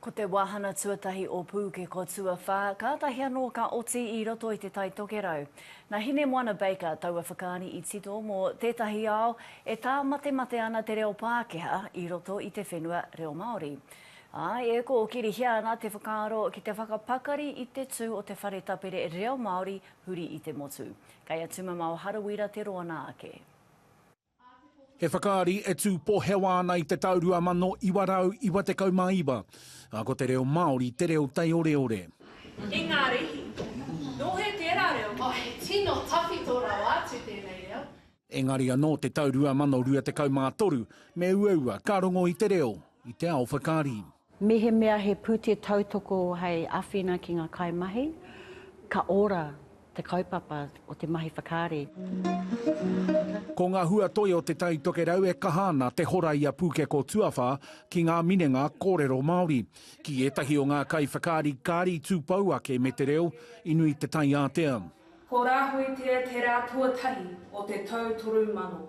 Ko te wāhana tuatahi o Pūkeko Tuawhā, kātahi anō ka oti i roto i Te Tai Tokerau. Nā Hinemoana Baker taua whakaari i tito mō tētahi ao e tāmatemate ana te reo Pākehā i roto i te whenua reo Māori. Āe, e kōkirihia ana te whakaaro ki te whakapakari i te tū o te whare tapere reo Māori huri i te motu. Kei a Tumamao Harawira te roanga ake. He whakaari e tū pohewa ana i te tau 2999, ā, ko te reo Māori te reo taioreore. Ingarihi. Nō hea tērā reo? Oh, he tino tawhito rawa atu tēnei reo. Engari anō te tau 2023, me uaua ka rongo i te reo, i te ao whakaari. Mehemea he pūtea tautoko hei āwhina ki ngā kaimahi, ka ora te kaupapa o te mahi whakaari. Ko ngā hua toi o Te Tai Tokerau e kaha ana te hora i a Pūkeko Tuawhā ki ngā minenga kōrero Māori. Ki ētahi o ngā kaiwhakaari kāri tū pou ake me te reo, i nui te taiātea. Ko Rāhuitea te rā tuatahi o te tau 3000.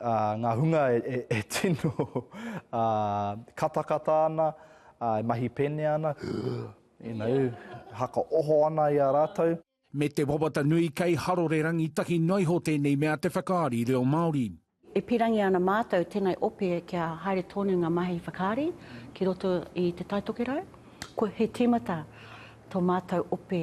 ngā hunga e tino katakata ana, e mahi pēnea ana, haka oho ana i a rātou. Me te wawata nui kei harore rangitahi noa iho tēnei mea te whakaari reo Māori. E pīrangi ana mātou tēnei ope kia haere tonu ngā mahi whakaari ki roto i Te Tai Tokerau. He tīmata tō mātou ope